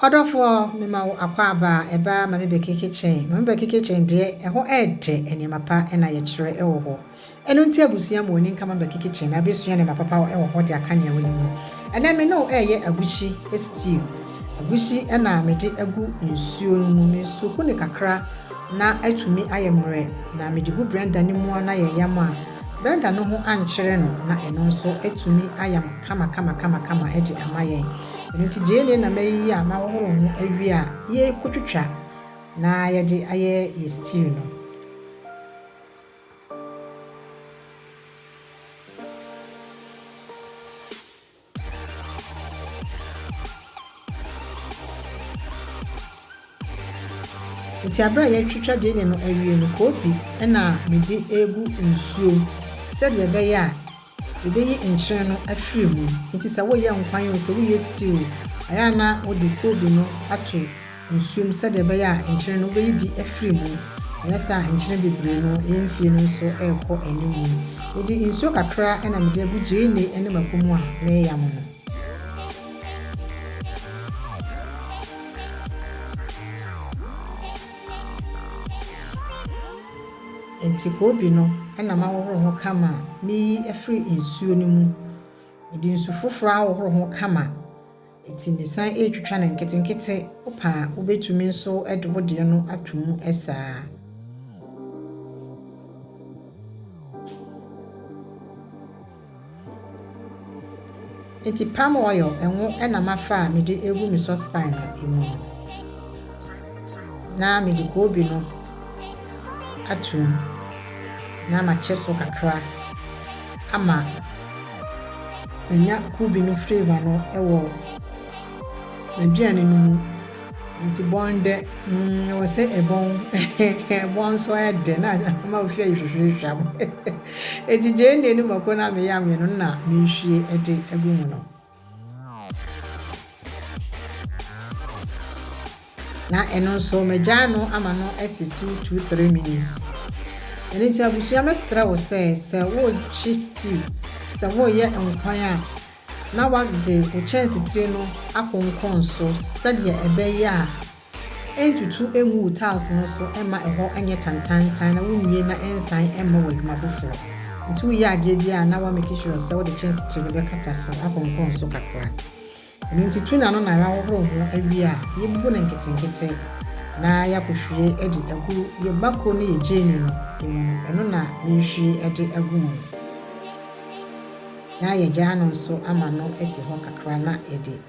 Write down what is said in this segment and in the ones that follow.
Ɔdɔfoɔ me ma wo akwaaba a ɛba ma me bɛkeke kyen ma me bɛkeke kyen deɛ ɛhɔ ɛɛdɛ nneɛma pa na yɛkyerɛ ɛwɔ hɔ ɛno nti abusua ma wɔni nka ma me bɛkeke kyen na bɛsua nneɛma papa ɛwɔ hɔ de aka nea wɔnim ho ɛnɛ me ne wo ɛɛyɛ agukyi stew agukyi ɛna me de agu nsuo no mu me soku no kakra na atumi ayɛ mmerɛ na me de gu blender no mu na yɛ yam a. Berger no ho ankyere no na ɛno nso atumi ayam kamakamakama de ama yɛn. Ɛno nti gyeene na mayiyi a mahohoro ho awie a yɛrekɔtwitwa na yɛde ayɛ yɛn stew no. Ntsi aber a yɛtwetwa gyeene no ewie no, koopi na mede egu nsuom sɛdeɛ ɛbɛyɛ a yebeyi nkyen no afiri mu. Ntsi sɛ woyɛ nkwan o, sɛ woyɛ stew o, ayɛ a na wode koobi no ato nsuo mu sɛdeɛ ɛbɛyɛ a nkyene no wobɛyi bi afiri mu. Anyɛ saa a nkyene bebree no yɛn mfeɛ no nso rekɔ anim mu. Mede nsuo kakra na mede agu gyeene ne mako mu a mereyam no. Enti koobi no na mahohoro ho kama meyi afiri nsuo no mu. Mede nsu foforɔ ahohoro ho kama. Enti mesan retwitwa no nketenkete. Wopɛ a, wubetumi nso de wo deɛ no ato mu saa ara. Enti palm oil, ngo na mafa a mede regu me saucepan no mu no. na mede koobi no ato mu na makyɛ so kakra ama manya koobi no flavour no wɔ m'aduane no mu. Nti bɔn dɛ, mm, ɛwɔ sɛ ɛbɔn, ɛbɔn nso ayɛ dɛ na ama ofi ayi hwehwehwehwam. Enti gyeene no mako na meyam yɛ no na menhwie de agu mu no. Na ɛno nso magyae no ama no asi so two three minutes. Ɛno nti abusua mɛsrɛ wo sɛ sɛ worekye stew sɛ woreyɛ nkwan a na wode wo kyɛnsetire no akonkɔn so sɛdeɛ ɛbɛyɛ a Ntutu ngu wo tiles no so mma ɛhɔ nyɛ tantaantan na wunwie na ɛnsan mma wo adwuma foforo. Enti woreyɛ adeɛ biara a, na woamake sure sɛ wode kyɛnse tire no bɛkata so akɔnkɔn so kakra. Ɛno nti tu n'ano na woahohoro ho awie a, yɛbubu no nketenkete na yɛakɔhwie de agu yɛn mako ne yɛn gyeene no mu no, ɛno na merehwie de agu mu no. Na yɛagya ano nso ama no asi hɔ kakra na yɛde.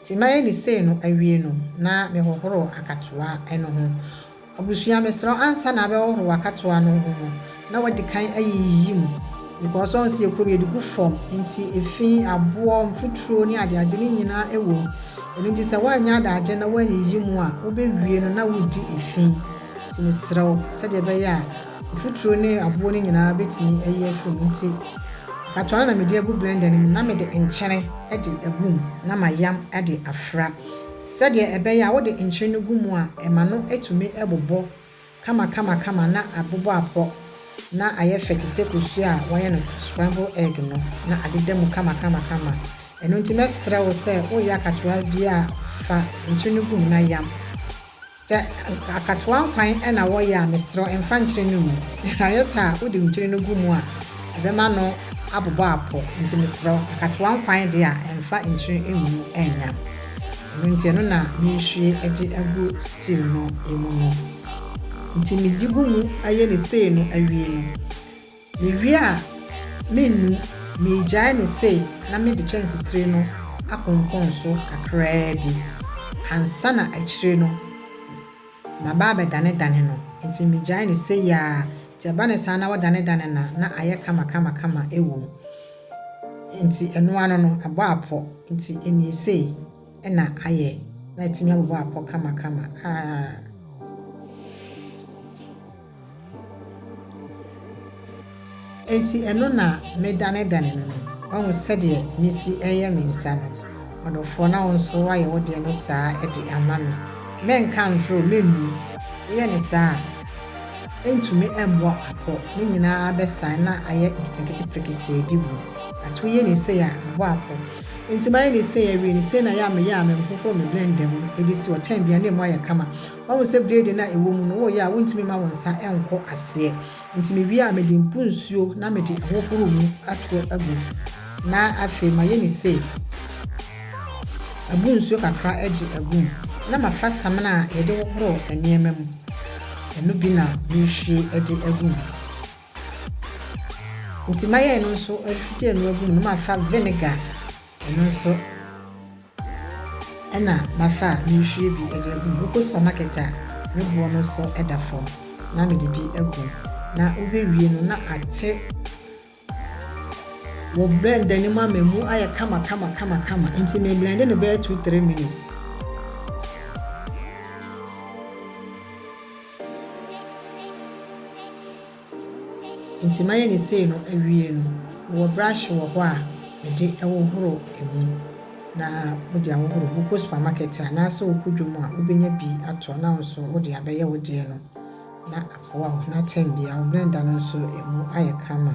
Nti mayɛ ne sei no awie no na mehohoro akatoa no ho. Abusua mesrɛ wo ansa na abɛhohoro w'akatoa no ho no na wadi kan ayiyi mu because woahu sɛ yɛkuro yɛde gu fam nti efi, aboɔ, mfuturo ne adeade no nyinaa ɛwɔ mu ɛno nti sɛ woanyɛ adagyeɛ na woanyiyi mu a wobɛwie no na wodi efi nti mesrɛ wo sɛdeɛ ɛbɛyɛ a Mfuturo ne aboɔ no nyinaa bɛtumi ayi afiri mu nti akatoa no na mede agu blender no mu na mede nkyene de agu mu na mayam de afra sɛdeɛ ɛbɛyɛ a wode nkyene no gu mu a ɛma no tumi bobɔ kamakamakama na abobɔ apɔ na ayɛ fɛ te sɛ kosua a wɔayɛ no scramble egg no na adeda mu kamakamakama. Ɛno nti mɛsrɛ wo sɛ woreyɛ akatoa biara fa nkyene no gu mu na yam. Sɛ akatoa nkwan na wɔyɛ a, mesrɛ wo mfa nkyere no ngu. Ayɛ saa a, wode nkyere no gu mu a, ɛbɛma ano abobɔ apɔ. Enti mesrɛ wo, akatoa nkwan deɛ a, mfa nkyere ngu nnya. Ɛno nti, ɛno na merehwie de agu stew no mu no. Enti mede gu mu yɛ no sei no awie no, Mewie a, mennu, megyae no sei na mede kyɛnsetire no akonkɔn so kakraa bi ansa na akyire no maba abɛdanedane no. Enti megyae no sei ara, enti ɛba no saa na wodanedane no a, na ayɛ kama kama kama wom. Enti ɛno ano no, abɔ apɔ, enti ɛnnie sei na ayɛ, na atumi abobɔ apɔ kama kama. Aaah! Enti ɛno na medanedane no no. Woahu sɛdeɛ mesi reyɛ me nsa no, ɔdɔfoɔ, na wo nso woayɛ wo deɛ no saa ara de ama me. Mɛnka mfrɛ wo, mɛnnu. Woyɛ no saa a, ɛrentumi mmɔ apɔ, ne nyina ara bɛsan na ayɛ nketenkete prekesee bi wom. But woyɛ no sei a, ɛbɔ apɔ. Enti mayɛ no sei awie no, sei na ɛyɛ a meyɛ a memhohoro me blender mu de si ɔtɛn bi a na ɛmu ayɛ kama. Wahu sɛ bleedi no a ɛwɔ mu no, woyɛ a wontumi mma wo nsa nkɔ aseɛ. Enti mewie a, mede mpu nsuo na mede ahohoro mu aturo agu, na afei mayɛ no sei, mabu nsuo kakra de agu mu, na mafa samina a yɛde hohoro nneɛma mu, ɛno bi na merehwie de agu mu. Enti mayɛ ɛno nso, refwie ɛno agu mu, na mafa vinegar Ɛno nso na mafa a merehwie bi de agu mu. Wokɔ supermarket a, me boɔ no sɔ da fam na mede bi agu mu na wobɛwie no na ate wɔ blender no mu ama ɛmu ayɛ kama kama kama kama nti me blende no bɛyɛ two three minutes. Nti mayɛ no sei no awie no mewɔ brush wɔ hɔ a mede hohoro mu na wode ahohoro mu. Wokɔ supermarket a anaasɛ wokɔ dwom a wobɛnya bi atɔ na wo nso wode abɛyɛ wo deɛ no na aboa wo. Na term biara wo blender no nso ɛmu ayɛ kama.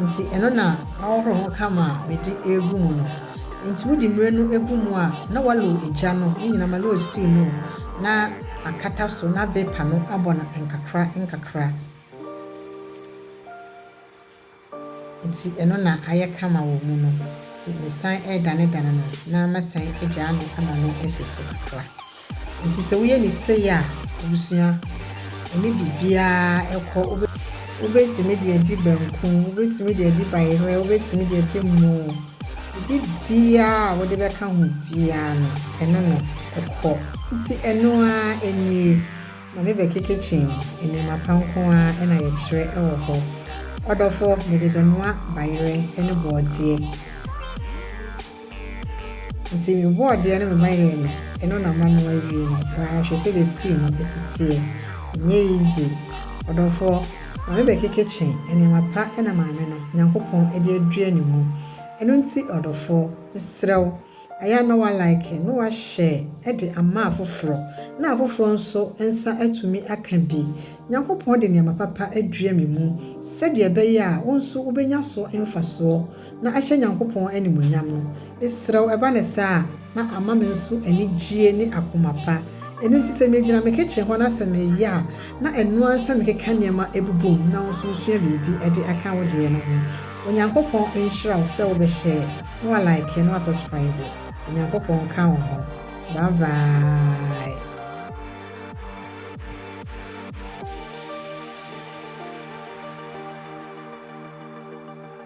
Enti ɛno na mahohoro ho kama a mede regu mu no. Enti wode mmire no gu mu a, na woalow gya no, ne nyinaa, ma low steam no, na akata so na bepa no abɔ no nkakra nkakra. Enti ɛno na ayɛ kama wɔ mu no. Enti mesan redanedane no, na mɛsan agyaa no ama no asi so kakra. Nti sɛ woyɛ ne sei a, abusua, ɛne biribiara kɔ. Wobɛtumi de adi banku, wobɛtumi de adi bayerɛ, wobɛtumi de adi mmo, biribiara a wode bɛka ho biara no, ɛne no kɔ. Nti ɛno ara nie, ma me bɛkeke kyen, nneɛma pa nko ara na yɛkyerɛ wɔ hɔ. Ɔdɔfoɔ, mede bɛnoa bayerɛ ne borɔdeɛ. Ntsi mobɔɔ deɛ no mema yɛɛ no, eno na mano awie no, aa hwɛ sɛdeɛ stew no si teɛ, nnyɛ easy, ɔdɔfoɔ, ma me bɛkeke kye, nneɛma pa na Maame no, Nyankopɔn, de adua ne mu, eno nti ɔdɔfoɔ, mesrɛ wo, aya na wa like, no wa share de ama afoforɔ, na afoforɔ nso nsa atumi aka bi, Nyankopɔn de nneɛma papa adua me mu, sɛdeɛ ɛbɛyɛ a wo nso wobɛnya so mfasoɔ. na ahyɛ Nyankopɔn animuonyam no, mesrɛw ɛba no saa a, na ama me nso anigyie ne akoma pa. Ɛno nti sɛ megyina me kitchen hɔ na sɛ meyɛ a, na ɛno ara sɛ mekeka nneɛma bobom na wo nso wosua biribi de aka wo deɛ no ho. Onyankopɔn nhyira wo sɛ wobɛ share na wa like na wa subscribe. Onyankopɔn nka wo ho. Bye bye.